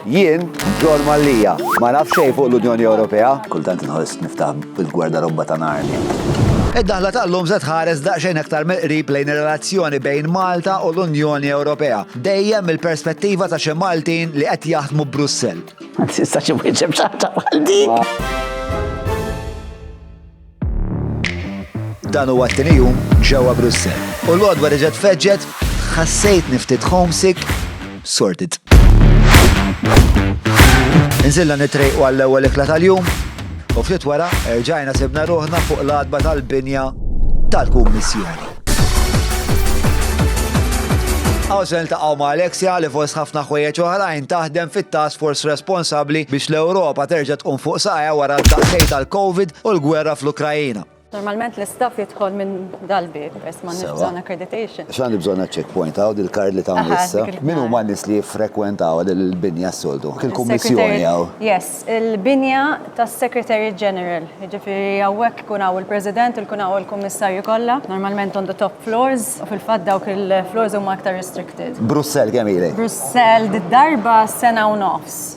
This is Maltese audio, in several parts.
Jien, John Mallia, ma naf xejn fuq l-Unjoni Ewropea. Kultant inħoss niftaħ bil-gwardarobba ta' Narnia. Id-daħla tal-lum se tħares daqsxejn aktar mill-qrib lejn ir-relazzjoni bejn Malta u l-Unjoni Ewropea, dejjem mill-perspettiva ta' xi Maltin li qed jaħdmu Brussell. Ma tistax imwieġeb xi ħaġa bħal dik. Dan huwa t-tieni jum ġewwa Brussel. U l-għodwa reġgħet feġġet, ħassejt niftit homesick, sorted. Nżilla nitrejqu għall-ewwel ikla tal-jum, u ftit wara erġajna sibna ruħna fuq l-adba tal-binja tal-Kummissjoni. Għawżel taqaw ma' Alexia li fost ħafna ħwejjeġ oħrajn taħdem fit-task force responsabbli biex l-Ewropa terġa' tqum fuq saqja wara d-daqsej tal-COVID u l-gwerra fl-Ukrajina. Normalment l-istaff jidħol minn dal-bib, peress ma nix bżonn accreditation. X'għandi bżonn checkpoint hawn il-kard li ta' issa. Min huma n-nies li jiffrekwentaw il-binja s-soltu? Il-kummissjoni hawn. Yes, il-binja tas-Secretary General. Jiġifieri hawnhekk ikun hawn il-President, ikun hawn il-Kummissarju kollha, normalment on the top floors, u fil-fatt dawk il-floors huma aktar restricted. Brussell kemm ilek? Brussell did-darba sena u nofs.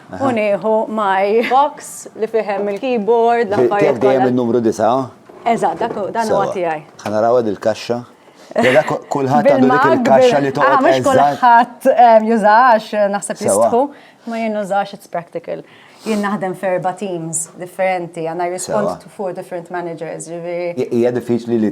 U nieħu my box li fihem il-keyboard, l-affarijiet. Tiegħek dejjem in-numru disa'? Eżatt, dak dan huwa tiegħi. Ħanaraw għad il-kaxxa. Jada kulħadd għandu dik il-kaxxa li toqgħod. Ah, mhux kulħadd ehm, jużax naħseb jistħu, ma jien nużax it's practical. Jien naħdem ferba teams differenti, għandna respond to four different managers, ġifieri. Hija diffiċli li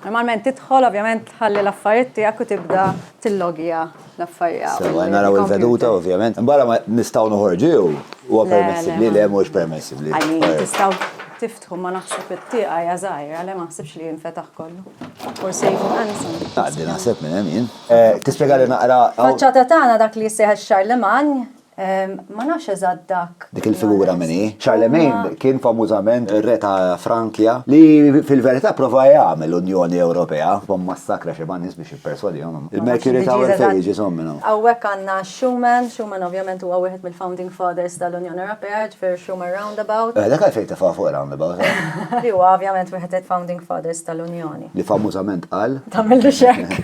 Normalment tidħol, ovvjament tħalli l-affarijiet tiegħek u tibda tillogja l-affarijiet. Sewa, naraw il-veduta ovvjament. Barra ma nistgħu noħorġu jew huwa permessibli le mhux permessibli. Għalli tistgħu tiftħu ma naħseb it-tieqa hija żgħira le ma naħsibx li jinfetaħ kollu. Forsi jkun ansan. Għaddi naħseb minn hemm jien. Tispjegali naqra. Faċċata tagħna dak li jissejħ ix-Charlemagne Ma nafx eżatt dak. Dik il-figura min hi. Charlemagne kien famużament ir-re ta' Frankja li fil-verità prova jagħmel Unjoni Ewropea u mmassakra xi ma' nies biex jipperswadihom. Il-Mercury Tower fejn jiġi żomm minn hawn? Hawnhekk għandna Schuman, Schuman ovvjament huwa wieħed mill-founding fathers tal-Unjoni Ewropea, jiġifieri Schuman Roundabout. Eh, dak għalfejn tefgħuha fuq ir-roundabout, eh? Li huwa ovvjament wieħed mill-founding fathers tal-Unjoni. li famużament qal. Tamillu xek.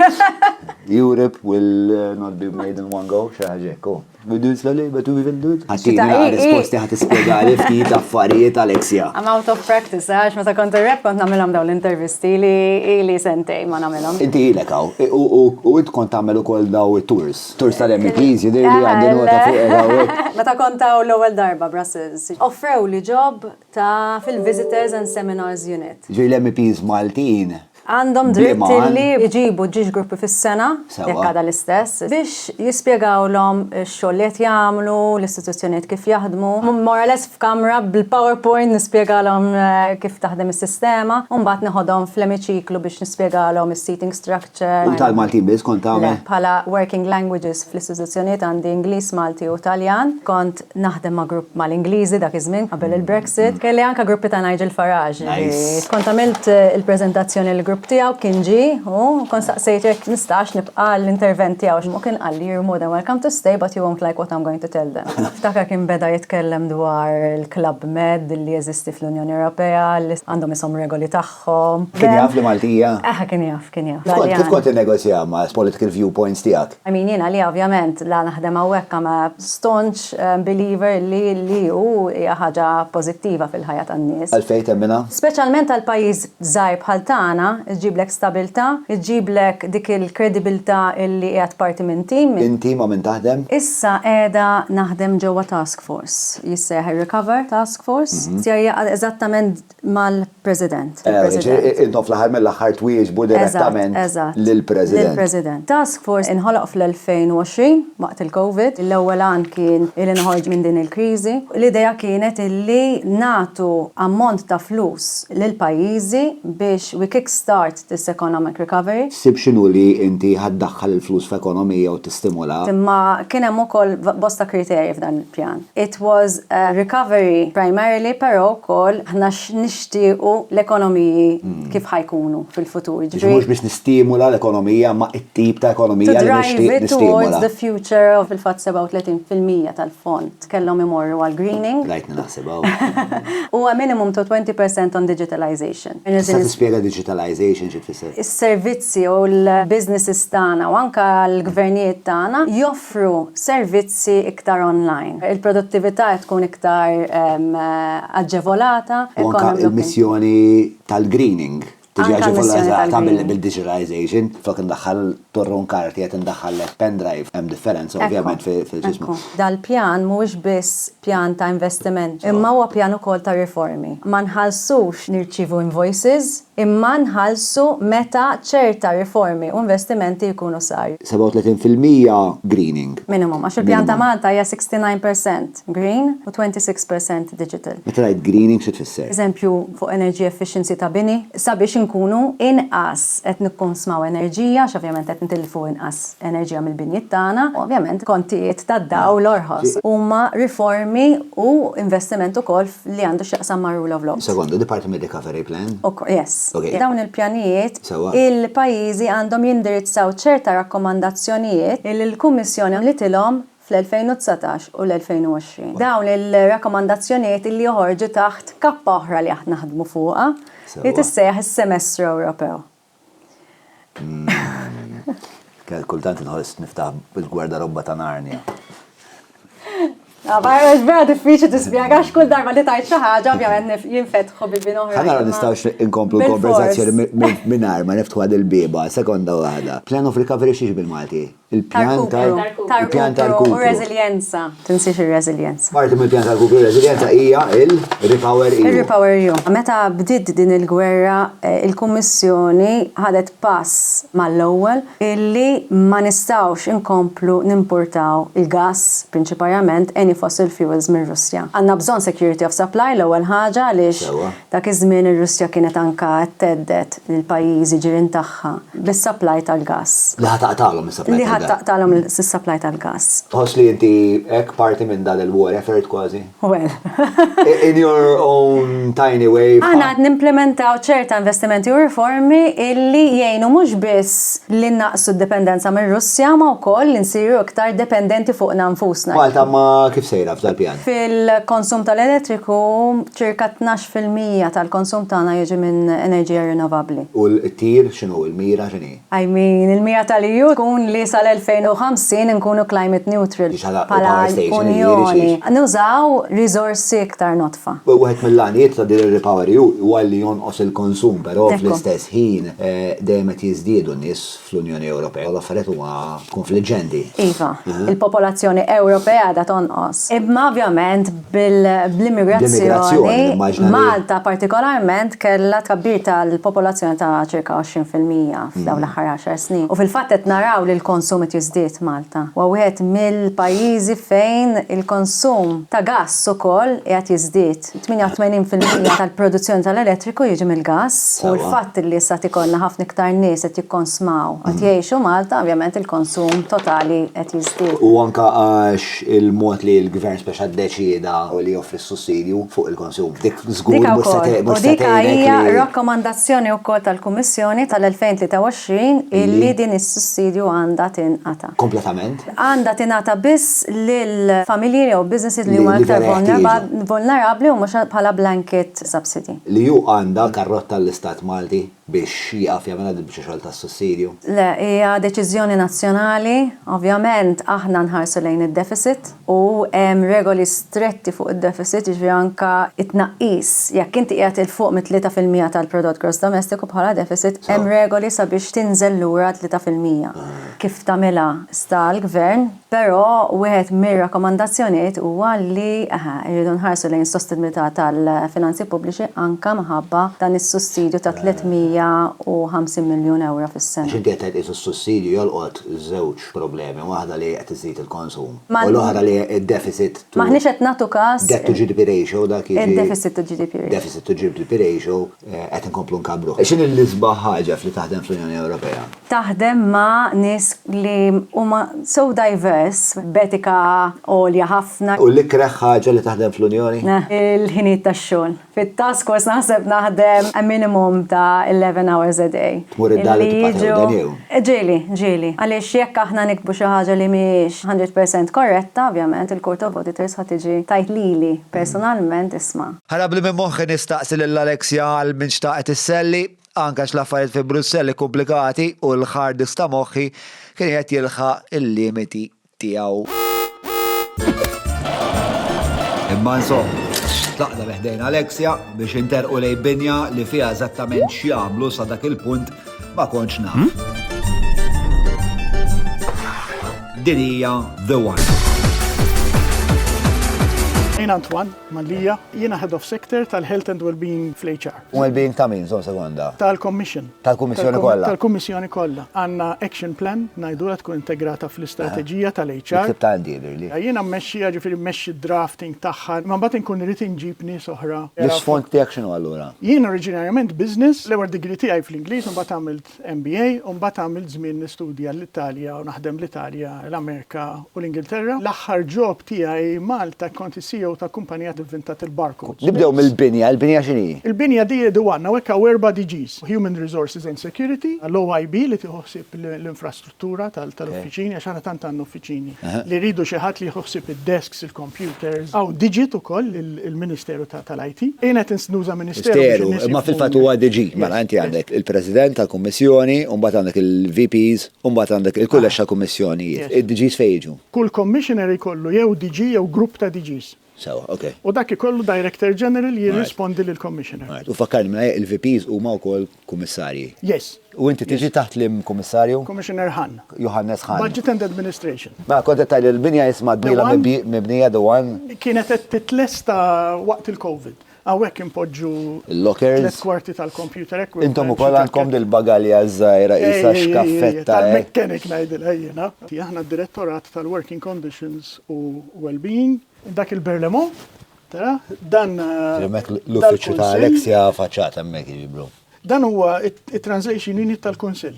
Europe will uh, not be made in one go, xaħġek, u. Bidun slali, betu bidun dun. Għatina la risposti għat ispiegali ftit affarijiet Alexia. I'm out of practice, għax ma ta' kont rep kont namilom daw l-intervisti li li sentej ma namilom. Inti ilek għaw, u int kont tamel u koll daw tours. Tours tal-MPs, jidir li għandin u ta' fuq Ma ta' kont għaw l-ewel darba Brussels. Offrew li ġob Ta' fil-Visitors and Seminars Unit. Ġifieri l-MEPs Maltin. Għandhom dritt li jġibu ġiex gruppi fis-sena, jekk għadha l-istess, biex jispjegawlhom ix-xogħol li qed jagħmlu, l-istituzzjonijiet kif jaħdmu. More or less f'kamra bil-powerpoint nispjegalhom kif taħdem is-sistema u mbagħad neħodhom fl-emiċiklu biex nispjegalhom is-seating structure. U tal-Maltin biss kont tagħmel? Le, bħala working languages fl-istituzzjonijiet għandi Ingliż, Malti u Taljan. Kont naħdem ma' grupp mal-Ingliżi dak iż-żmien qabel il-Brexit. Kelli anke gruppi ta' Nigel Farage. Nice. Kont għamilt il-preżentazzjoni lill-grupp tiegħu, kien ġie u kont staqsejtu jekk nistax nibqa' għall-intervent tiegħu u kien qalli you're more than welcome to stay but you won't like what I'm going to tell them. Niftakar kien beda jitkellem dwar il-Club Med li jeżisti fl-Unjoni Ewropea li għandhom ishom regoli tagħhom. Kien jaf li Maltija? Aha, kien jaf, kien jaf. Kif kont tinnegozja ma' political viewpoints tiegħek? I mean, jiena li ovvjament la naħdem hawnhekk I'm a staunch believer li li u hija ħaġa pożittiva fil-ħajja tan-nies. Għalfejn temminha? Speċjalment għal pajjiż żgħir bħal tagħna, iġġiblek stabilità, iġġiblek dik il-kredibilità illi qiegħed parti minn tim. Inti ma' min taħdem? Issa qiegħda naħdem ġewwa task force, jissejjaħ ir-Recover Task Force. Ser jaqgħad eżattament mal-President. Jiġifieri intom fl-aħħar mill-aħħar twieġbu direttament lill-President. Lill-President. Task Force inħoloq fl-2020 waqt il-Covid. L-ewwel għan kien li noħorġu minn din il-kriżi. L-idea kienet li nagħtu ammont ta' flus lill-pajjiżi biex we kick start This economic recovery. Ssib x'inhu li inti ħa ddaħħal il-flus f'ekonomija u tistimula. Imma kien hemm ukoll bosta kriterji f'dan il-pjan. It was a recovery primarily però wkoll aħna x'nixtiequ l-ekonomiji kif ħa jkunu fil-futur. Jiġifieri mhux biex nistimula l-ekonomija imma t-tip ta' ekonomija li nixtieq nistimula. To drive it towards the future of fil-fatt 37% tal-fond. kellhom imorru għall-greening. Rajtni naħseb hawn. U a minimum to 20 per cent on digitalization. Tista' tispjega digitalization xi tfisser? Is-servizzi u l-businesses tagħna u anke l-gvernijiet tagħna joffru servizzi iktar online. Il-produttività qed tkun iktar aġġevolata. U anke l-missjoni tal-greening. Tiġi ġivolazata bil-digitalization, flok indaħħal torron karti qed indaħħal lek pendrive, hemm differenza ovvjament fil-ġismu. Dal-pjan mhuwiex biss pjan ta' investiment, imma huwa pjan ukoll ta' riformi. Ma nħallsux nirċievu invoices, imma nħallsu meta ċerta riformi u investimenti jkunu saru. 37 fil-mija greening. Minimum, għax il-pjan ta' Malta hija 69%. percent green u 26 percent digital. Meta tgħid greening xi tfisser? Eżempju fuq energy efficiency ta' bini, sabiex inkunu inqas qed nikkonsmaw enerġija għax ovvjament qed nitilfu inqas enerġija mill-binjiet tagħna, u ovvjament kontijiet tad-dawl orħos. Huma riformi u investiment ukoll li għandu x'jaqsam mar-rule of law. Sekonda, di parti mir-recovery plan? Ukoll, yes. Okej. Dawn il-pjanijiet, il-pajjiżi għandhom jindirizzaw ċerta rakkomandazzjonijiet li l-Kummissjoni għamlitilhom fl-2019 u l-2020. Dawn il-rakkomandazzjonijiet li joħorġu taħt kappa oħra li aħna naħdmu fuqha li tissejjaħ is-Semestru Ewropew. Kultant inħoss niftaħ il-gwardarobba ta' Narnia. Għax vera diffiċli tispjega għax kull darba li tajt xi ħaġa ovvjament jinfetħu bi bin oħra. Ħa nara nistgħux inkomplu l-konversazzjoni mingħajr ma niftħu għad il-bieba, sekonda waħda. Plan of recovery x'inhi bil-Malti? Il-pjan ta' il-pjan ta' rkupru. U reżiljenza, tinsiex ir-reżiljenza. Parti mill-pjan ta' rkupru u reżiljenza hija il-Repower EU. Ir-Repower EU. Meta bdiet din il-gwerra, il-Kummissjoni ħadet pass mal-ewwel illi ma nistgħux inkomplu nimpurtaw il-gass, prinċiparjament any fossil fuels mir-Russja. Għandna bżonn security of supply l-ewwel ħaġa għaliex Dak iż-żmien ir-Russja kienet anka qed thedded lill-pajjiżi ġirien tagħha bis-supply tal-gass. Li ħa taqtagħlhom is-supply tal-gass. Li ħa taqtagħlhom is-supply tal-gass. Tħoss li inti hekk parti minn dan il-war effort kważi? Well. In your own tiny way. Aħna qed nimplimentaw ċerta investimenti u riformi illi jgħinu mhux biss li nnaqqsu d-dipendenza mir-Russja ma wkoll li nsiru iktar dependenti fuqna nfusna. Malta ma kif sejra f'dal-pjan? Fil-konsum tal-elettriku Ċirka tnax fil-mija tal-konsum tagħna jiġi minn enerġija rinnovabbli. U l-tir x'inhu, il-mira x'inhi? I mean, il-mira tal-EU tkun li sal-2050 inkunu climate neutral bħala Unjoni. Nużaw riżorsi iktar nodfa. Wieħed mill-għanijiet ta' din ir-REPowerEU huwa li jonqos il-konsum, però fl-istess ħin dejjem qed jiżdiedu n-nies fl-Unjoni Ewropea u l-affarijiet huma kunfliġġenti. Iva, il-popolazzjoni Ewropea qiegħda tonqos. Imma ovvjament bl-immigrazzjoni, Malta partikolarment kellha tkabbir tal-popolazzjoni ta' ċirka 20 fil-mija f'dawn l-aħħar għaxar snin. U fil-fatt qed naraw li l-konsum qed jiżdied f'Malta. Huwa wieħed mill-pajjiżi fejn il-konsum ta' gass ukoll qiegħed jiżdied. 88 fil-mija tal-produzzjoni tal-elettriku jiġi mill-gass u l-fatt li issa qed ikollna ħafna iktar nies qed jikkonsmaw qed jgħixu Malta, ovvjament il-konsum totali qed jiżdied. U anke għax il-mod li l-Gvern speċa ddeċieda li joffri s-sussidju fuq il-konsum. Dik żgur Dika mhux se wkoll. te- mhux U se dika tgħinek hija li- rakkomandazzjoni wkoll tal-Kummissjoni tal-2023 illi din is-sussidju għandha tinqata'. Kompletament. għandha tingħata biss lil familji jew businesses li huma iktar vulnerabbli u mhux bħala blanket subsidy. Li hu għandha karrotta l-Istat Malti biex jieqaf jagħmilha din il-biċċa xogħol tas-sussidju? Le, hija deċiżjoni nazzjonali. Ovvjament aħna nħarsu lejn id-deficit u hemm regoli stretti fuq id-deficit, jiġifieri anke t-tnaqqis. Jekk inti qiegħed 'il fuq mit-tlieta fil-mija tal-prodott gross domestiku bħala deficit, hemm regoli sabiex tinżel lura għal tlieta fil-mija. kif tagħmilha sta għall-Gvern, però wieħed mir-rakkomandazzjonijiet huwa li rridu nħarsu lejn is-sostenibilità tal-finanzi pubbliċi anke minħabba dan is-sussidju ta' 350 miljun ewro fis-sena. Għax inti qed tgħid qisu s-sussidju jolqot żewġ problemi, waħda li qed iżżid il-konsum u l-oħra li d-deficit to. M'aħniex qed nagħtu każ. Debt to GDP ratio dak jiġi. Id-deficit to GDP ratio. Deficit to GDP ratio Qed inkomplu nkabbruh. X'inhi l-isbaħ ħaġa f'li taħdem fl-Unjoni Ewropea? Taħdem ma' nies li huma so diverse, b'etika għolja ħafna. U l-ikreh ħaġa li taħdem fl-Unjoni? Il-ħinijiet tax-xogħol. Fit-task force naħseb naħdem a minimum ta' eleven hours a day. Tmur id-dar u tibqa' tewden jew? Ġieli, ġieli. Għaliex jekk aħna niktbu xi ħaġa li mhijiex hundred percent korretta, ovvjament il-Court of Auditors ħa tiġi tgħid lili personalment isma', Ħarabli minn moħħi nistaqsi lil Alexia għal min xtaqet isselli, anke għax l-affarijiet fi Brussell ikkumplikati u l-hard disk ta' moħħi kien qiegħed jilħaq il-limiti tiegħu. Imma insomma, tlaqna bi ħdejn Alexia biex interqu lejn binja li fiha eżattament x'jagħmlu sa dak il-punt ma kontx naf. Din hija The One. Għin Antoine. Mallia, jiena Head of Sector tal-Health and Wellbeing fl-HR. Wellbeing ta' min, żomm sekonda? Tal-Commission. Tal-Kummissjoni kollha. Tal-Kummissjoni kollha. Għandna action plan, ngħidulha tkun integrata fl-istrateġija tal-HR. Miktub ta' għandi jidhirli. Jiena mmexxiha, jiġifieri mmexxi d-drafting tagħha, imma mbagħad inkun irrid inġib nies oħra. L-isfond tiegħek x'inhu allura? Jien oriġinarjament Business, l-ewwel degree tiegħi fl-Ingliż u mbagħad għamilt għamilt MBA u mbagħad għamilt żmien nistudja l-Italja u naħdem l-Italja, l-Amerika u l-Ingilterra. L-aħħar job tiegħi Malta kont is-CEO ta' kumpanija li vvintat il-barcodes. Nibdew mill-binja, il-binja x'inhi? Il-binja di di one, hawnhekk hawn erba' DGs, Human Resources and Security, l-OIB li tieħu ħsieb l-infrastruttura, Tura tal-uffiċini, għax aħna tant għandna uffiċini li rridu xi ħadd li jieħu ħsieb id-desks, il-kompjuters. Hawn Digit ukoll, il-Ministeru tal-IT. Jien qed nuża Ministeru biex in-nies. Ministeru, imma fil-fatt huwa DG. Mela inti għandek il-President tal-Kummissjoni u mbagħad għandek il-VPs u mbagħad għandek il-Kulleġġ tal-Kummissjonijiet. Id-DGs fejn jiġu? Kull Commissioner ikollu jew DG jew grupp ta' DGs. Sewwa, ok. U dak ikollu Director General jirrispondi lill-Commissioner. Alright, u fakkarni mela jekk il-VPs huma wkoll Kummissarji. Yes. U inti tiġi taħt liem Kummissarju? Commissioner Hahn. Johannes Hahn. Budget and Administration. Mela kont qed tgħid li l-binja isma' The One. Mibnija The One. Kienet qed titlesta waqt il-Covid. Hawnhekk inpoġġu Il-lockers. tliet kwarti tal-computer equipment. Intom ukoll għandkom dil-bagalja żgħira qisha xkaffetta. hekk. Tal-mechanic ngħidilha jiena. Aħna d-Direttorat tal-Working Conditions u Wellbeing. Dak il-Berlemont, tara, dan Hemmhekk l-uffiċċju ta' Alex hija affaċċata hemmhekk jiġifieri. Dan huwa t-Translation Unit tal-Kunsill.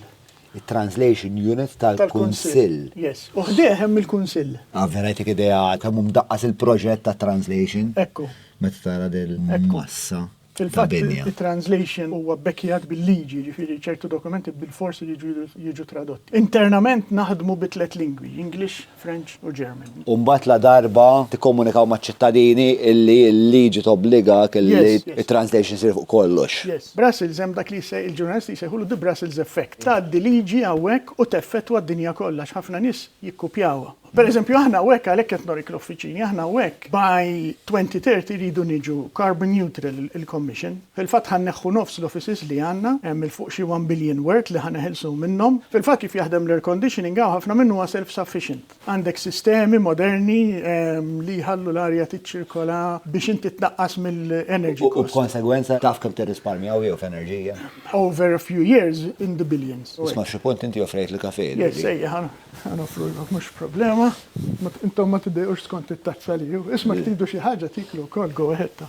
it-Translation Unit tal-Kunsill. Yes. U ħdejh hemm il-Kunsill. Ah, vera jtik idea kemm hu mdaqqas il-proġett ta' translation. Ekku. Meta tara dil massa. Fil-fatt, it-translation huwa bbekkjat bil-liġi, ġifieri ċertu dokumenti bil-fors iridu jiġu tradotti. Internament naħdmu bi tliet lingwi, English, French u German. U mbagħad la darba tikkomunikaw maċ-ċittadini illi l-liġi tobbligak illi t-translation issir fuq kollox. Yes. Brussels hemm dak li l-ġurnalisti jsejħulu the Brussels effect. Tgħaddi liġi hawnhekk u teffettwa d-dinja kollha għax ħafna nies jikkupjawha. Pereżempju aħna hawnhekk għalhekk qed norik l-uffiċini, aħna hawnhekk by 2030 rridu niġu carbon neutral il-Commission. Fil-fatt ħa nneħħu nofs l-offices li għandna, hemm 'il fuq xi one billion worth li ħa neħilsu minnhom. Fil-fatt kif jaħdem l-air conditioning hawn ħafna minnu huwa self sufficient. Għandek sistemi moderni li jħallu l-arja tiċċirkola biex inti tnaqqas mill-energy cost. U b'konsegwenza taf kemm tirrisparmja hawn jew f'enerġija? Over a few years in the billions. Isma' xi punt inti offrejt l-kafè lili. Yes, ejja ħa noffrulhom mhux problema. Intom ma tiddejqux skont it-tazza li hu. Isma' jekk tridu xi ħaġa tiklu wkoll go ahead.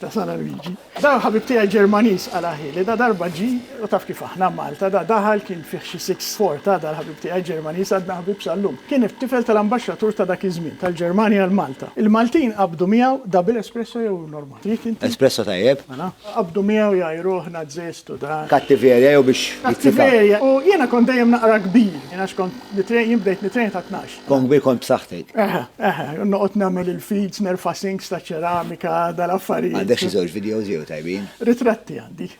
Ta' sala Luigi. Dan il-ħabib tiegħi Ġermaniż, qal aħi, li da darba ġie, u taf kif aħna, Malta, da daħal kien fih xi sitt xhor, ta' da l-ħabib tiegħi Ġermaniż għadna ħbieb sal-lum. Kien it-tifel tal-ambaxxatur ta' dak iż-żmien, tal-Ġermanja għal Malta. Il-Maltin qabdu miegħu, da bil-espresso jew normali? Trid inti? Espresso tajjeb. Mela. Qabdu miegħu jgħajruh nazzist u da. Kattiverja jew biex jittifgħu. Kattiverja, u jiena kont dejjem naqra kbir, jiena x'kont nitrejn, jien bdejt nitrejn ta' tnax. Kongwi kont b'saħħtek. Eħe, eħe, noqgħod nagħmel il-feeds, nerfa' sinks ta' ċeramika, dal-affarijiet. Għandek xi żewġ videos jew tajbin? Ritratti għandi.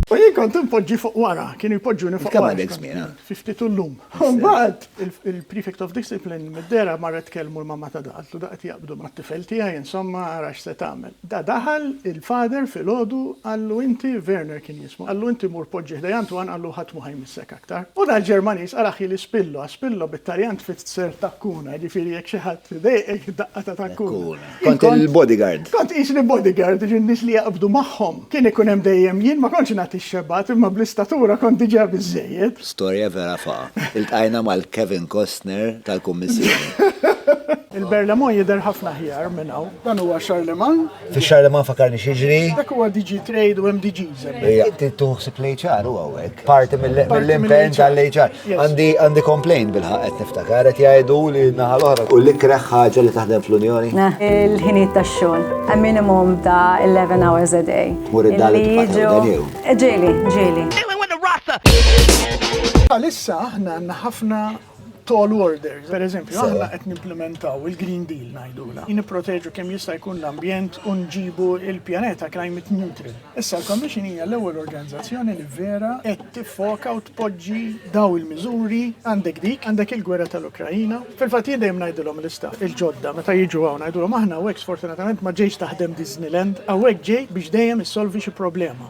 U jien kont inpoġġi fuq wara, kienu jpoġġuni fuq wara. Kemm għandek żmien? 52 llum. Mbagħad il-prefect of discipline mid-dera marret tkellmu l-mamma ta' da, qaltlu da qed jaqbdu mat-tifel tiegħi, insomma, ara x'se tagħmel. Da daħal il-father filgħodu qallu inti, Werner kien jismu, qallu inti mur poġġi ħdejja Antoine qallu ħadd mhu ħa jmissek aktar. U dal-Ġermaniż ara ħi li spillo a spillo bit-Taljan tfitser takkuna, jiġifieri jekk xi ħadd idejqek daqqa ta' takkuna. Kont il-bodyguard. Kont qisni bodyguard, jiġifieri n-nies li jaqbdu magħhom. Kien ikun hemm dejjem jien, ma kontx nagħti x-xebgħat imma bl-istatura kont diġà biżżejjed. Storja vera fa'. Iltqajna mal-Kevin Costner tal-Kummissjoni. Il-Berlaymont jidher ħafna aħjar minn hawn. Dan huwa Charlemagne. Fi xar li ma fakarni xieġri. Dak huwa DG Trade u hemm DGs. Inti tuħsib l-HR u għawek. Parti mill-impen tal-HR. Għandi għandi complaint bil-ħaq qed niftakar qed jgħidu li naħal oħra. U li kreħ ħaġa li taħdem fl-Unjoni. Il-ħinijiet tax-xogħol. A minimum ta' 11 hours a day. Mur id-dali Ġieli, ġieli. Għalissa aħna għandna ħafna tall order. Per eżempju, aħna qed nimplementaw il-Green Deal ngħidula. Nipproteġu kemm jista' jkun l-ambjent u nġibu il-pjaneta climate neutral. Issa l-Commission hija l-ewwel organizzazzjoni li vera qed tiffoka u tpoġġi daw il-miżuri għandek dik, għandek il-gwerra tal-Ukrajina. Fil-fatt jien dejjem ngħidilhom l-istaff il-ġodda meta jiġu hawn ngħidulhom aħna hawnhekk sfortunatament ma ġejx taħdem Disneyland, hawnhekk ġej biex dejjem issolvi xi problema.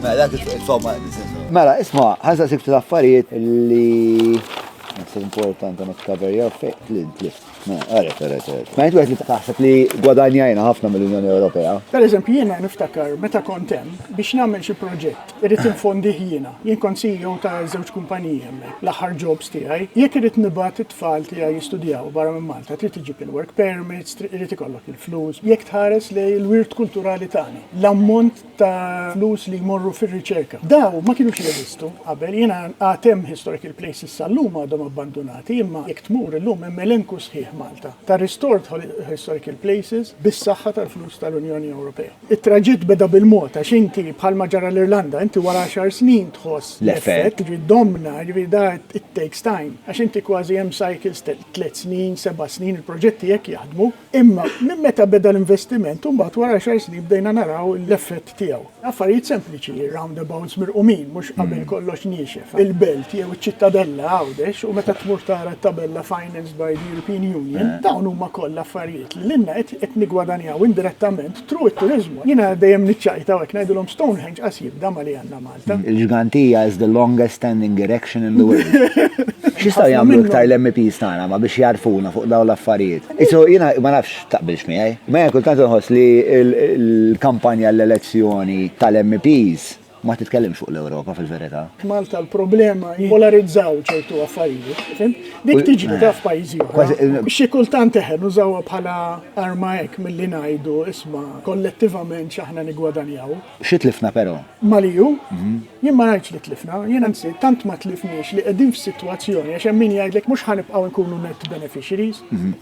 Mela, dak il-fomma, Mela, isma, ħansa sikt l-affarijiet li It's important għamek cover your face. Tlin, tlin. Ma, għarek, għarek, għarek. Ma jintu għet taħseb li gwadanjajna ħafna mill-Unjoni Ewropea. Per eżempju, jena niftakar meta kontem biex namel xi proġett, irrit infondi jiena. Jien kont CEO ta' żewġ kumpanija l-aħħar jobs tiegħi. Jekk irrit nibat it-tfal tiegħi jistudjaw barra minn Malta, trid iġib il-work permits, irrit ikollok il-flus. Jekk tħares li l-wirt kulturali tagħna, l-ammont ta' flus li jmorru fir-riċerka. Dawn ma kinux jeżistu qabel, jiena għad hemm historical places sal-lum għadhom abbandunati imma jekk tmur illum hemm elenku sħiħ Malta ta' restored historical places bis-saħħa tal-flus tal-Unjoni Ewropea. It-traġitt beda bil-mod għax inti bħalma ġara l-Irlanda inti wara għaxar snin tħoss l-effett, jiġifieri domna, jiġifieri da it takes time għax inti kważi hemm cycles ta' tliet snin, seba' snin, il-proġetti hekk jaħdmu. Imma minn meta beda l-investiment u mbagħad wara għaxar snin bdejna naraw l-effett tiegħu. Affarijiet sempliċi, roundabouts mirqumin mhux qabel kollox niexef, il-Belt jew iċ-Ċittadella Għawdex u meta tmur tara t-tabella financed by the European Union, dawn huma kollha affarijiet li lilna qed niggwadanjaw indirettament through it-turiżmu. Jiena dejjem niċċajta u hekk ngħidilhom Stonehenge qas jibda ma' li għandna Malta. Il-ġganti hija is the longest standing erection in the world. X'jistgħu jagħmlu iktar l-MEPs tagħna ma biex jgħarrfuna fuq dawn l-affarijiet? Issu jiena ma nafx taqbilx miegħi, imma jiena kultant inħoss li l-kampanja għall-elezzjoni tal-MEPs ma titkellimx fuq l-Ewropa fil-verità. F'Malta l-problema hi jippolarizzaw ċertu affarijiet, fimt? Dik tiġri taf f'pajjiżi oħra. Xi kultant eħe nużawha bħala arma hekk milli ngħidu isma' kollettivament x'aħna niggwadanjaw. Xi tlifna però? Maliju, Jien ma ngħidx li tlifna, jien anzi tant ma tlifniex li qegħdin f'sitwazzjoni għax hemm min jgħidlek mhux ħa nibqgħu nkunu net beneficiaries.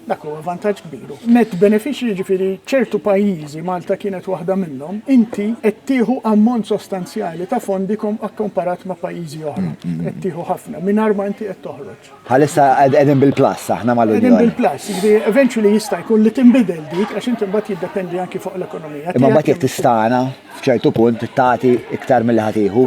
Dak huwa vantaġġ kbir. Net beneficiary jiġifieri ċertu pajjiżi, Malta kienet waħda minnhom, inti qed tieħu ammont sostanzjali ta' fondi akkomparat ma' pajjiżi oħra. Qed tieħu ħafna mingħajr ma inti qed toħroġ. Bħalissa qegħdin bil-plus aħna mal-Unjoni. Qegħdin bil-plus, jiġifieri eventually jista' jkun li tinbidel dik għax inti mbagħad jiddependi anki fuq l-ekonomija. Imma mbagħad jekk tistana f'ċertu punt tagħti iktar milli ħatiħu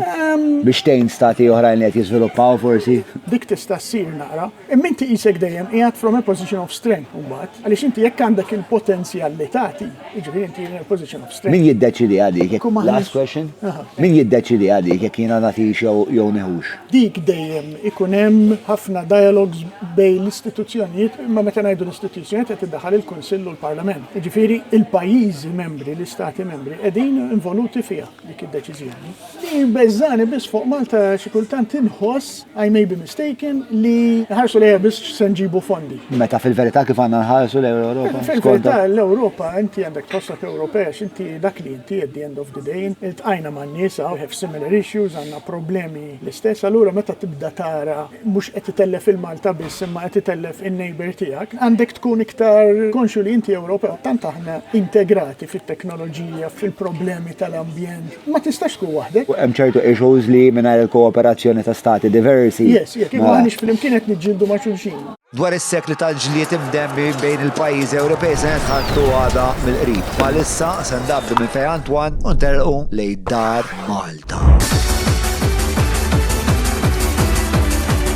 biex tgħin stati oħrajn li qed jiżviluppaw forsi. Dik tista' ssir naqra. Imma inti qisek dejjem qiegħed from a position of strength mbagħad għaliex inti jekk għandek il-potenzjal li tagħti, jiġifieri inti in a position of Min jiddeċiedi għalik jekk huma Last question. Min jiddeċiedi għalik jekk jiena nagħtix jew jew nieħux? Dik dejjem ikun hemm ħafna dialogues bejn l-istituzzjonijiet, imma meta ngħidu l-istituzzjonijiet qed iddaħħal il-Kunsill u l-Parlament. Jiġifieri l-pajjiżi membri, l-Istati Membri qegħdin involuti fiha dik id-deċiżjoni. Li jbeżżani biss fuq Malta xi kultant inħoss, I may be mistaken, li nħarsu lejha biss x'se nġibu fondi. Meta fil-verità kif għandna nħarsu lejn l-Ewropa? Fil-verità l-Ewropa inti għandek tħossok Ewropej għax inti dak li inti at the end of the day. Iltqajna man-nies hawn, we have similar issues, għandna problemi l-istess, allura meta tibda tara mhux qed itellef lil Malta biss imma qed itellef in-neighbour tiegħek, għandek tkun iktar konxju li inti Ewropew, tant aħna integrati fit-teknoloġija, fil-problemi tal-ambjent, ma tistax tkun waħdek. U hemm ċertu issues li mingħajr il-kooperazzjoni ta' stati diversi. Yes, jekk maħniex flimkien qed niġġieldu ma' xulxin. Dwar is-sekli tal-ġlied imdemmi bejn il-pajjiżi Ewropej se nitħaddtu għada mill-qrib. Bħalissa se ndabdu minn Fejn Antoine u ntelqu lejn Dar Malta.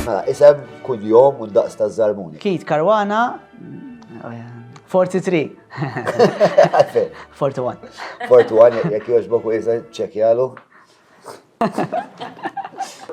Mela, isem kull jom u d-daqs taż-żarmuni. Keith Caruana, 43. Għalfejn? 41. 41, jekk jogħġbok u jisa ċekjalu.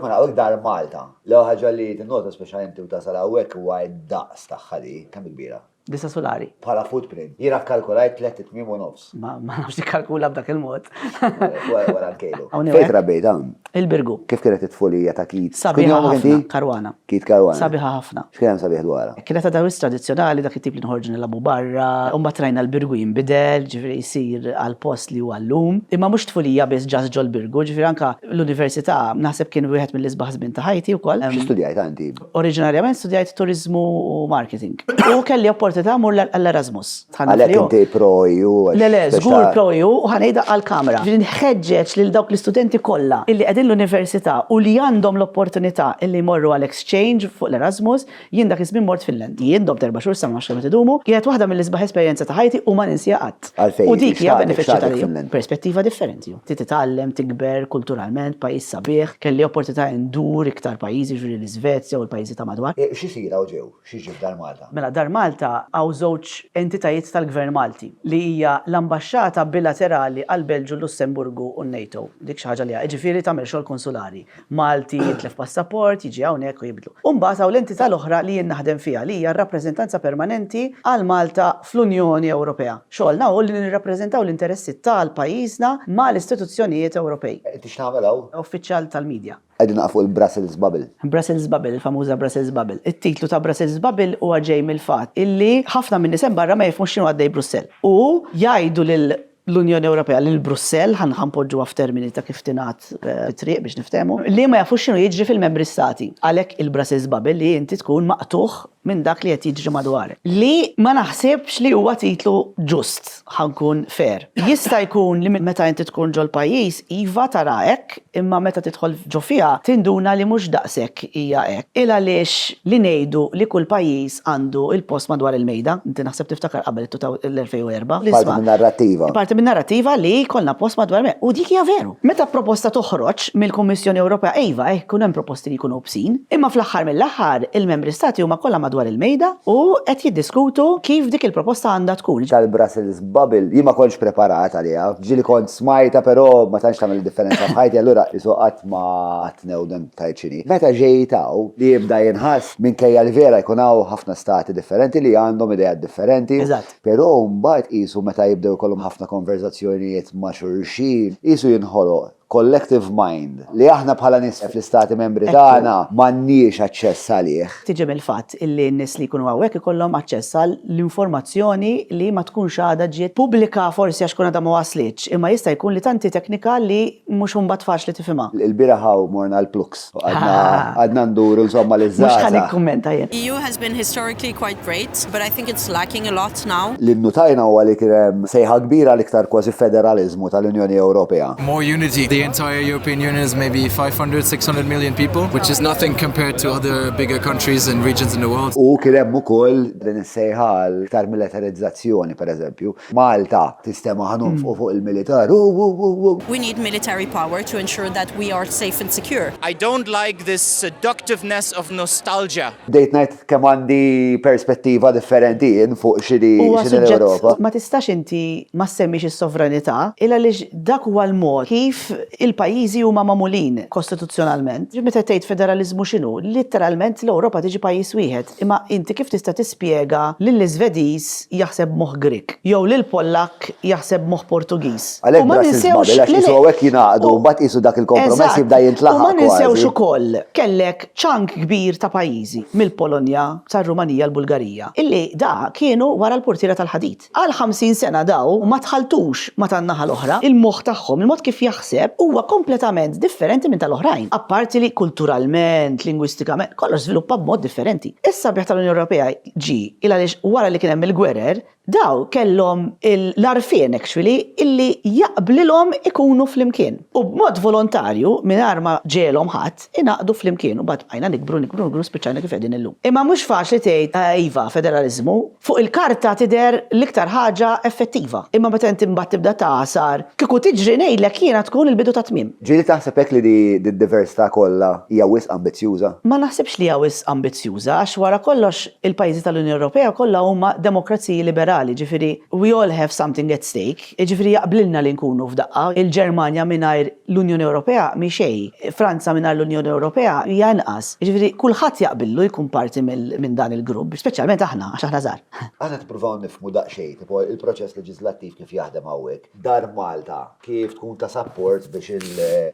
Mela, hawnhekk dar Malta. L-ewwel ħaġa li tinnota speċjalment inti u tasal hawnhekk huwa d-daqs tagħha li kemm kbira? Disa' sulari. Bħala footprint. Jiena kkalkulajt tliet itmiem u nofs. Ma nafx tikkalkula b'dak il-mod. Wara nkejlu. Fejn trabbejt hawn? Il-Birgu. Kif kienet it-tfulija ta' Keith? Sabiħa ħafna. Karwana. Keith Karwana. Sabiħa ħafna. X'kien hemm sabiħ dwarha? Kienet għadha wisq tradizzjonali dak it-tip li noħorġu nilagħbu barra, u mbagħad rajna l-birgu jinbidel, jiġifieri jsir għall-post li huwa llum. Imma mhux tfulija biss just ġol-birgu, jiġifieri anke l-università naħseb kien wieħed mill-isbaħ żmien ta' ħajti wkoll. Xi studjajt għandi? Oriġinarjament studjajt turiżmu u marketing. U kelli opportunità mmur għall-Erasmus. Għalhekk inti pro EU? Le le, żgur pro EU u ħa ngħidha għall-kamera. Ġifieri nħeġġeġ lil dawk l-istudenti kollha li qegħdin l-università u li għandhom l-opportunità li jmorru għal exchange fuq l-Erasmus, Jien dak iż-żmien mort fil-lent. Jien domt erba' xhur sena ma nafx kemm qed idumu, kienet waħda mill-isbaħ esperjenza ta' ħajti u ma ninsiha qatt. Għalfejn? U dik hija benefiċċju ta' li. Perspettiva differenti. Trid titgħallem, tikber, kulturalment, pajjiż sabiħ. Kelli opportunità indur iktar pajjiżi, jiġifieri l-Isvezja u l-pajjiżi ta' madwar. X'isir hawn ġew? X'jiġri f'Dar Malta? Mela Dar Malta hawn żewġ entitajiet tal-Gvern Malti, li hija l-ambaxxata bilaterali għall-Belġju, l-Lussemburgu u n-NATO. Dik xi ħaġa li. Jiġifieri tagħmel xogħol konsulari. Malti, jitlef passaport, jiġi hawnhekk u jibdlu. U mbagħad hawn l-entità l-oħra li jien naħdem fiha li hija r-Rappreżentanza Permanenti għal Malta fl-Unjoni Ewropea. Xogħolna hu li nirrappreżentaw l-interessi tal-pajjiżna ma' l-istituzzjonijiet Ewropej. Qed ix tagħmel hawn? Uffiċjal tal-media. Qegħdin naqa' fuq il-Brussels Bubble. Brussels Bubble, il-famuża Brussels Bubble. It-titlu ta' Brussels Bubble huwa ġej mill-fatt illi ħafna min-nies hemm barra ma jifhmux x'inhu għaddej Brussell. U jgħidu lil l-Unjoni Ewropea lil Brussell, ħa npoġġuha f'termini ta' kif tingħad it-triq biex niftehmu, li ma jafux x'inhu jiġri fil-Membri Stati. Għalhekk il-Brussels Bubble li inti tkun maqtugħ minn dak li qed jiġri madwarek. Li ma naħsibx li huwa titlu ġust, ħa nkun fair. Jista' jkun li meta inti tkun ġol-pajjiż, iva tara hekk, Imma meta tidħol ġo fiha tinduna li mhux daqshekk hija hekk. Ilgħaliex li ngħidu li kull pajjiż għandu l-post madwar il-mejda? Inti naħseb tiftakar qabel l-2004. Parti min-narrattiva. Parti min-narrattiva li jkollna post madwar il-mejda. U dik hija veru. Meta proposta toħroġ mill-Kummissjoni Ewropea iva eh ikun hemm proposti li jkunu obsin. Imma fl-aħħar mill-aħħar il-Membri Stati huma kollha madwar il-mejda u qed jiddiskutu kif dik il-proposta għandha tkun. Tal-Brussels Bubble, jien ma kontx preparat għaliha, ġieli kont smajtha però ma tantx tagħmel differenza f'ħajti allura qisu qatt ma qatt newden b'tajt x'inhi. Meta ġejt hawn, li jibda jinħass, minkejja li vera jkun hawn ħafna stati differenti li għandhom ideat differenti, però mbagħad qisu meta jibdew ikollhom ħafna konverżazzjonijiet ma' xulxin, qisu jinħoloq collective mind, li aħna bħala nies fl-Istati Membri tagħna m'għandniex aċċess għalih. Tiġi mill-fatt li n-nies li jkunu hawnhekk ikollhom aċċess għal l-informazzjoni li ma tkunx għadha ġiet pubblika forsi għax tkun għadha ma waslitx, imma jista' jkun li tant hi teknika li mhux imbagħad faċli tifhimha. Il-bieraħ hawn morna l-Plux. Għadna nduru insomma li żgħażagħ. Mhux ħa nikkummenta jien. EU has been historically quite great, but I think it's lacking a lot now. Li nnutajna huwa li kien hemm sejħa kbira għal iktar kważi federaliżmu tal-Unjoni Ewropea. More unity. The entire European Union is maybe 500, 600 million people, which is nothing compared to other bigger countries and regions in the world. U kien hemm ukoll din is-sejħa għal iktar militarizzazzjoni, pereżempju. Malta tistema ħa nonfqu fuq il-militar hu hu hu hu. We need military power to ensure that we are safe and secure. I don't like this seductiveness of nostalgia. Bdejt ngħid kemm għandi perspettiva differenti jien fuq x'inhi l-Ewropa. Ma tistax inti ma ssemmix is-sovranità il għaliex dak huwa l-mod kif il-pajjiżi huma magħmulin kostituzzjonalment. Meta tgħid federaliżmu x'inhu? Litteralment l-Ewropa tiġi pajjiż wieħed. Imma inti kif tista' tispjega lill-Iżvediż Malti jaħseb b'moħħ Grieg, jew lil Pollakk jaħseb b'moħħ Portugiż. Għalhekk Brussels Bubble, għax qisu hawnhekk jingħaqdu, mbagħad qisu dak il-kompromess jibda jintlaħaq kważi. U ma ninsewx ukoll, kellek ċank kbir ta' pajjiżi, mill-Polonja, sar-Rumanija, l-Bulgarija, illi da kienu wara l-purtiera tal-ħadid. Għal 50 sena daw ma dħaltux ma tan-naħa l-oħra, il-moħħ tagħhom, il-mod kif jaħseb huwa kompletament differenti minn tal-oħrajn, apparti li kulturalment, lingwistikament, kollox żviluppa b'mod differenti. Is-sabiħ tal-Unjoni Ewropea ġie il għaliex wara li kien hemm il-gwerer, daw kellhom l-għarfien actually illi jaqblilhom ikunu flimkien. U b'mod volontarju, mingħajr ma ġegħelhom ħadd, ingħaqdu flimkien u mbagħad bqajna nikbru, nikbru, nikbru u spiċċajna kif qegħdin illum. Imma mhux faċli tgħid, iva, federaliżmu, fuq il-karta tidher l-iktar ħaġa effettiva, imma meta inti mbagħad tibda tagħsar, kieku tiġri ngħidlek jiena tkun il-bidu tat-tmiem. Ġieli taħseb hekk li d-diversità kollha hija wisq ambizzjuża? Ma naħsibx li hija wisq ambizzjuża għax wara kollox il-pajjiżi tal-Unjoni Ewropea kollha huma demokraziji liberali, jiġifieri we all have something at stake, jiġifieri jaqblilna li nkunu f'daqqa. Il-Ġermanja mingħajr l-Unjoni Ewropea mhi xejn, Franza mingħajr l-Unjoni Ewropea hija inqas. Jiġifieri kulħadd jaqbillu jkun parti minn dan il-grupp, speċjalment aħna għax aħna żgħar. Aħna nippruvaw nifhmu daqsxejn tipo il-proċess leġiżlattiv kif jaħdem hawnhekk, Dar Malta Kif tkun ta' sapport biex il.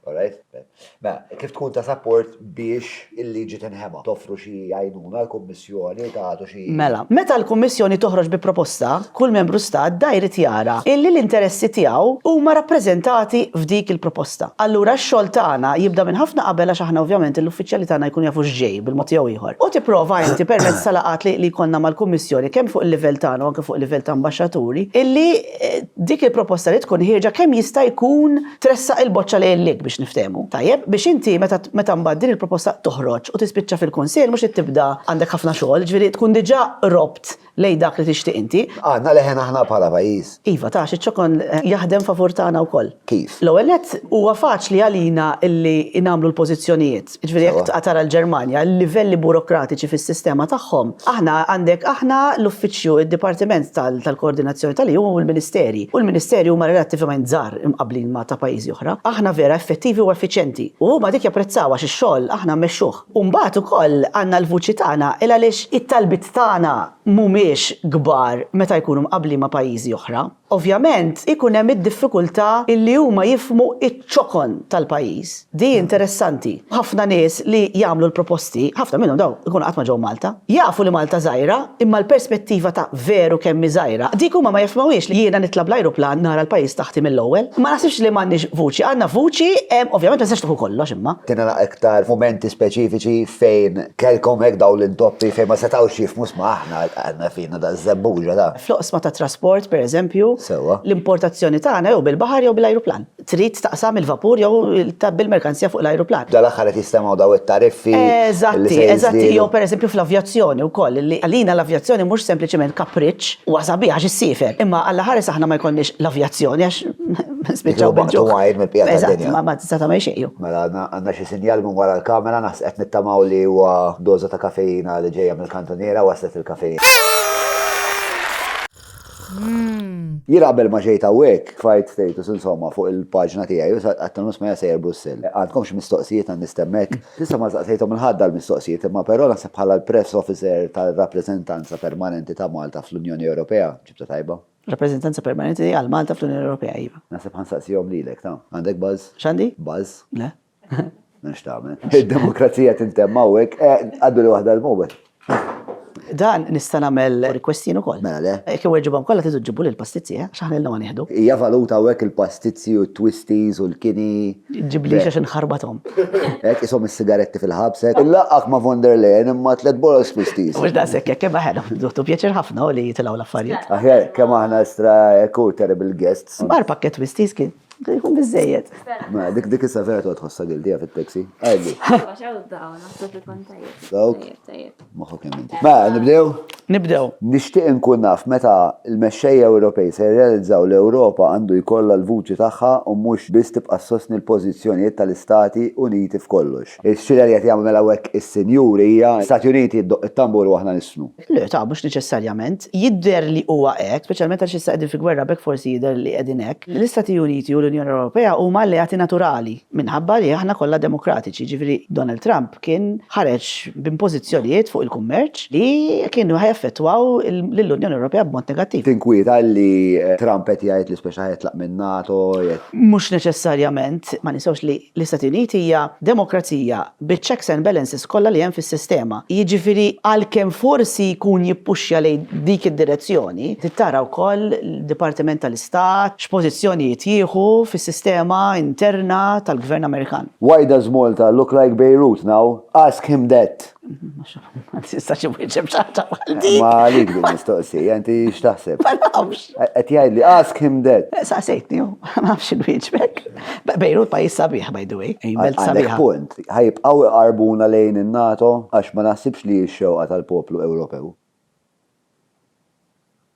Alright? Mela, kif tkun ta' sapport biex il-liġi tinħema? Toffru xi għajnuna l-Kummissjoni, tagħtu xi. Mela, meta l-Kummissjoni toħroġ bi proposta, kull Membru Stat da jrid jara illi l-interessi tiegħu huma rappreżentati f'dik il-proposta. Allura x-xogħol tagħna jibda minn ħafna qabel għax aħna ovvjament l-uffiċjali tagħna jkunu jafu x'ġej bil-mod jew ieħor. U tipprova inti permezz ta' laqgħat li jkollna mal-Kummissjoni kemm fuq il-livell tagħna u anke fuq il-livell ta' ambaxxaturi illi. dik il-proposta li tkun ħierġa kemm jista' jkun tressaq il-boċċa lejlek biex niftehmu. Tajjeb, biex inti meta meta mbagħad din il-proposta toħroġ u tispiċċa fil-Kunsill mhux li tibda għandek ħafna xogħol, ġifieri tkun diġà qrobt lejn dak li tixtieq inti. Għandna leħen aħna bħala pajjiż. Iva, taf, iċ-ċokon jaħdem favur tagħna wkoll. Kif? L-ewwel nett, huwa faċli għalina illi nagħmlu l-pożizzjonijiet. Jiġifieri jekk tqa' tara l-Ġermanja, l-livelli burokratiċi fis-sistema tagħhom, aħna għandek aħna l-uffiċċju, id-dipartiment tal-koordinazzjoni tal-EU u l-ministeri. U l-ministeri huma relattivament żgħar imqabblin ma' ta' pajjiżi oħra. Aħna vera effettivi u effiċjenti. U huma dik japprezzaw għax ix-xogħol aħna mmexxuh. U mbagħad ukoll għandna l-vuċi tagħna il għaliex it-talbiet tagħna mhumiex kbar meta jkunu mqabblin ma' pajjiżi oħra. Ovvjament ikun hemm id-diffikultà illi huma jifhmu iċ-ċokon tal-pajjiż. Di interessanti. Ħafna nies li jagħmlu l-proposti, ħafna minnhom dawn ikunu qatt ma ġew Malta. Jafu li Malta żgħira, imma l-perspettiva ta' veru kemm hi żgħira, dik huma ma jifhmuhiex li jiena nitla' bl-ajruplan nara l-pajjiż taħti mill-ewwel. Ma naħsibx li m'għandniex vuċi, għandna vuċi, ovvjament ma tistax tieħu kollox imma. Kien hemm iktar mumenti speċifiċi fejn kellkom hekk dawn l-intoppi fejn ma setgħux jifhmu, isma' aħna għandna fin. Nagħtaq iż-żebbuġa da! Fl-oqsma tat-trasport, pereżempju, l-importazzjoni tagħna jew bil-baħar jew bl-ajruplan. Trid taqsam il-vapur jew tgħabbi l-merkanzija fuq l-ajruplan. Dal-aħħar qed jistemgħu daw it-tariffi li se jiżdiedu. Eżatti, eżatti. Jew pereżempju fl-avjazzjoni wkoll, li għalina l-avjazzjoni mhux sempliċiment kapriċċ, huwa sabiħ għax issiefer, imma allaħares aħna ma jkollniex l-avjazzjoni għax nispiċċaw bil-ġuħ. Titlu baqgħet mill-bqija tad-dinja. Eżatt, ma ma tista' tagħmel xejn jew. Mela għandna xi sinjal minn wara l-kamera, naħseb qed nittamaw li huwa doża ta' kafeina li ġejja. Kantuniera waslet il-kafejn. Jien qabel ma ġejt hawnhekk, tfajt status insomma fuq il-paġna tiegħi u sa qatt nofs ma jgħid sejjer Brussell. Għandkom xi mistoqsijiet għandi stemmek? S'issa ma staqsejthom 'il ħadd dal-mistoqsijiet imma però naħseb bħala l-Press Officer tar-Rappreżentanza Permanenti ta' Malta fl-Unjoni Ewropea, ġibtha tajba. Rappreżentanza Permanenti għal Malta fl-Unjoni Ewropea, iva. Naħseb ħa nsaqsihom lilek, ta. Għandek buzz? X'għandi? Buzz. Le. Minn xtamen. Il-demokrazija tintemm hawnhekk, eh, għaddu li waħda l-mobile. Dan nista' nagħmel requestin ukoll. Mela le. Jekk iweġibhom kollha tidu ġibu lil pastizzi, eh? X'aħna ilna ma nieħdu. Hija valuta hawnhekk il-pastizzi u t-twisties u l-kini. Ġiblix għax inħarbathom. Hekk ishom is-sigaretti fil-ħabs hekk. Inlaqqgħek ma' von der Leyen imma tliet boros twisties. Mhux daqshekk hekk imma ħena ħdutu pjaċir ħafna li jitilgħu l-affarijiet. Aħjar kemm aħna estra hekk hu terrible guests. Mar pakkett twisties kien. Jkun biżejjed. Ma dik dik issa vera toqgħod ħossa gildija fit-taxi. Għajli. Dawk. Moħħu kemm inti. Ma nibdew? Nibdew. Nixtieq inkun naf meta l-mexxejja Ewropej se jirrealizzaw l-Ewropa għandu jkollha l-vuċi tagħha u mhux biss tibqa' ssostni l-pożizzjonijiet tal-Istati Uniti f'kollox. Ix-xirja li qed jagħmlu mela hawnhekk is-sinjuri hija, l-Istati Uniti ddoqq it-tambur u aħna nisnu. Le, ta' mhux neċessarjament. Jidher li huwa hekk, speċjalment għaliex issa qegħdin fi gwerra b'hekk forsi jidher li qegħdin hekk. L-Istati Uniti u l-Unjoni Ewropea huma alleati naturali minħabba li aħna kollha demokratiċi, jiġifieri Donald Trump kien ħareġ b'impożizzjonijiet fuq il-kummerċ li kienu ħa jaffettwaw lill-Unjoni Ewropea b'mod negattiv. Tinkwieta li Trump qed jgħid li speċi ħa jitlaq min-NATO? Mhux neċessarjament. Ma ninsewx li L-Istati Uniti hija demokrazija biċ-checks and balances kollha li hemm fis-sistema. Jiġifieri għalkemm forsi jkun jippuxja lejn dik id-direzzjoni, trid tara wkoll l-Dipartiment tal-Istat x'pożizzjonijiet jieħu fis-sistema interna tal-Gvern Amerikan. Why does Malta look like Beirut now? Ask him that! Ma tistax imwieġeb xaħġa bħal dik. Ma għalik din mistoqsija, inti x'taħseb? Ma nafx. Qed jgħid li ask him that. Eh, Saqsejtni, ma nafx inwieġbek. Bejrut pajjiż sabiħ by the way. Għandek punt, ħajbqgħu iqarbuna lejn in-NATO għax ma naħsibx li x-xewqa tal-poplu Ewropew.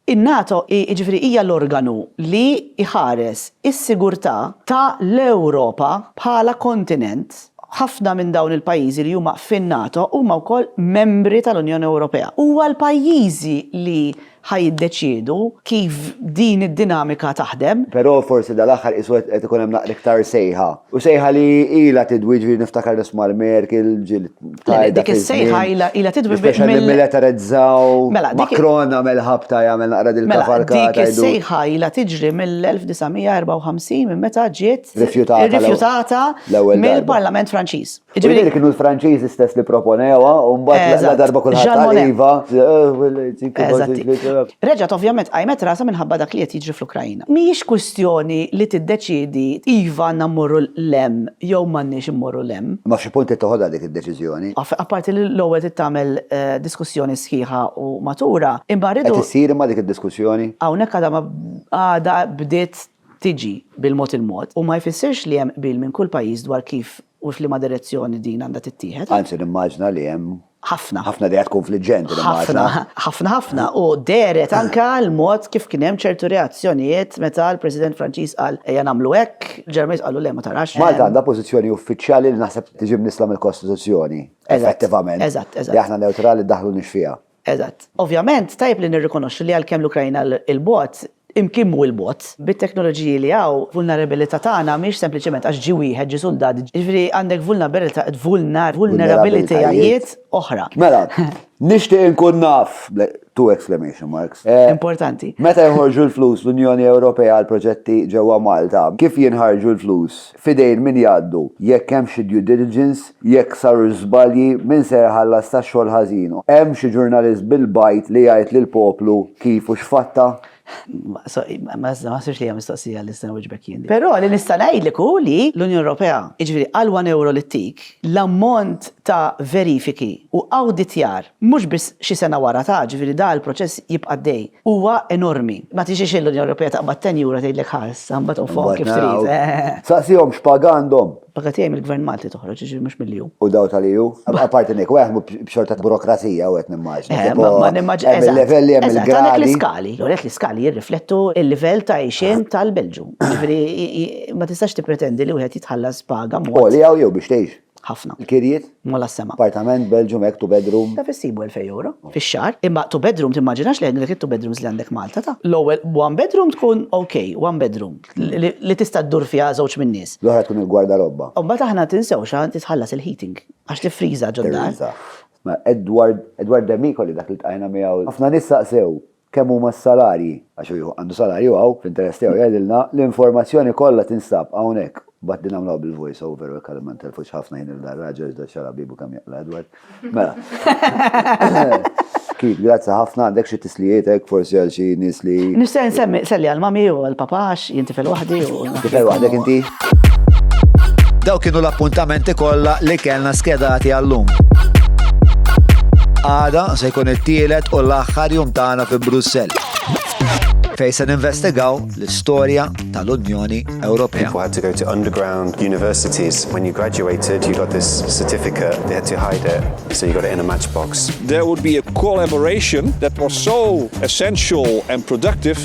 In-NATO hi jiġifieri hija l-organu li jħares is-sigurtà ta' l-Ewropa bħala kontinent. Ħafna minn dawn il-pajjiżi li huma fin-NATO huma wkoll membri ta' l-Unjoni Ewropea. Huwa l-pajjiżi li ħa jiddeċiedu kif din id-dinamika taħdem. Però forsi da l-aħħar qisu qed ikun hemm naqra iktar sejħa. U sejħa li ilha tidwi jiġifieri niftakar nisma' l-Merkel ġieli. Le, dik is-sejħa ila ila tidwi biex. Mela militarizzaw. Mela, Macron għamel ħabta jagħmel naqra din mela, il-kavalkata. Dik is-sejħa ila tiġri mill-1954 minn meta ġiet rifjutata mill-Parlament Franċiż. Ġifieri kienu l-Franċiżi stess li proponewha u mbagħad la darba kulħadd iva. Reġgħet ovvjament qajmet rasa minħabba dak li qed jiġri fl-Ukrajna. Mhijiex kwistjoni li tiddeċiedi iva għandna mmorru 'l hemm jew m'għandniex immorru 'l hemm. Imma f'xi punt trid toħodha dik id-deċiżjoni. Apparti li l-ewwel trid tagħmel diskussjoni sħiħa u matura, imma rridu. Qed issir imma dik id-diskussjoni? Hawnhekk għadha ma għadha bdiet tiġi bil-mod il-mod u ma jfissirx li hemm qbil minn kull pajjiż dwar kif u f'liema direzzjoni din għandha tittieħed. Anzi nimmaġina li hemm Ħafna. Ħafna dejja tkun fliġġenti nimmaġina. Ħafna, ħafna u dehret anke l-mod kif kien hemm ċertu reazzjonijiet meta l-President Franċiż qal ejja nagħmlu hekk, il-Ġermaniż qalu le ma tarax. Malta għandha pożizzjoni uffiċjali li naħseb tiġi mnissla mill-Kostituzzjoni effettivament. Eżatt, eżatt. Li aħna newtrali ddaħħlunix fiha. Eżatt. Ovvjament tajjeb li nirrikonoxxu li għalkemm l-Ukrajna 'l bogħod, Imkn kemm hu l-bogħod, bit-teknoloġiji li hawn, vulnerabilità tagħna mhiex sempliċement għax ġie wieħed, ġie suldat, jiġifieri għandek vulnerabilitajiet oħra. Mela, nixtieq inkun naf, two exclamation marks. Importanti. Meta joħorġu l-flus l-Unjoni Ewropea għall-proġetti ġewwa Malta, kif jinħarġu l-flus? F'idejn min jgħaddu? Jekk hemm xi due diligence, jekk sarux żbalji, min se jħallas tax-xogħol ħażin? Hemm xi ġurnalist bil-bajd li jgħid lill-poplu kif u x'fatta? Sorry, ma naħsibx li hija mistoqsija li nista' nwieġbek jien. Però li nista' ngħidlek hu li l-Unjoni Ewropea, jiġifieri għal one euro li ttik, l-ammont ta' verifiki u awditjar Mhux biss xi sena wara ta', ġifieri da l-proċess jibqa' għaddej. Huwa enormi. Ma tixix l-Unjoni Ewropea taqbad tenjura tgħidlek ħa issa mbagħad u nfoqhom kif trid. Saqsihom x'paga għandhom. Paga tiegħi mill-Gvern Malti toħroġ, jiġifieri mhux mill-EU. U daw tal-EU? Apparti minn hekk, wieħed jaħdmu b'xorta ta' burokrazija u qed nimmaġina. Eh, ma nimmaġina. Hemm il-livelli, hemm il-gradi. Għandek l-iskali. Għandek l-iskali jirriflettu l-livell ta' għixien tal-Belġju. Ġifieri ma tistax tippretendi li wieħed jitħallas paga mhux. Għoli hawn jew biex tgħix. Ħafna. Il-kirjiet? Mola s-sema. Appartament, Belgium, hekk, two bedroom. Taf issibu elfej ewro fix-xahar, imma two bedroom timmaġinax li għandek it-two bedrooms li għandek Malta ta'. L-ewwel one bedroom tkun ok, one bedroom li tista' ddur fiha żewġ min-nies. L-oħra tkun il-gwardarobba. U mbagħad aħna tinsewx li tħallas il-heating għax tifriża ġod-dar. Tifriża. Edward Demicoli dak li ltqajna miegħu. Ħafna nies staqsew, kemm huma s-salarji, għax hu jieħu għandu salarju hawn, fl-interess tiegħu jgħidilna, l-informazzjoni kollha tinstab hawnhekk. Mbagħad din nagħmluha bil-voice over u hekk għalhekk ma ntelfux ħafna ħin lil dar-raġel iżda xara bibu kemm jaqla' Edward. Mela. Keith, grazzi ħafna, għandek xi tislijiet hekk forsi għal xi nies li. Nixtieq insemmi, selli għal mami u għall-papa għax jien tifel waħdi u. Tifel waħdek inti? Daw kienu l-appuntamenti kollha li kellna skedati għallum. Għada se jkun it-tielet u l-aħħar jum tagħna fi Brussell. Fej se ninvestigaw l-istorja tal-Unjoni Ewropea. People had to go to underground universities. When you graduated, you got this certificate. They had to hide it, so you got it in a matchbox. There would be a collaboration that was so essential and productive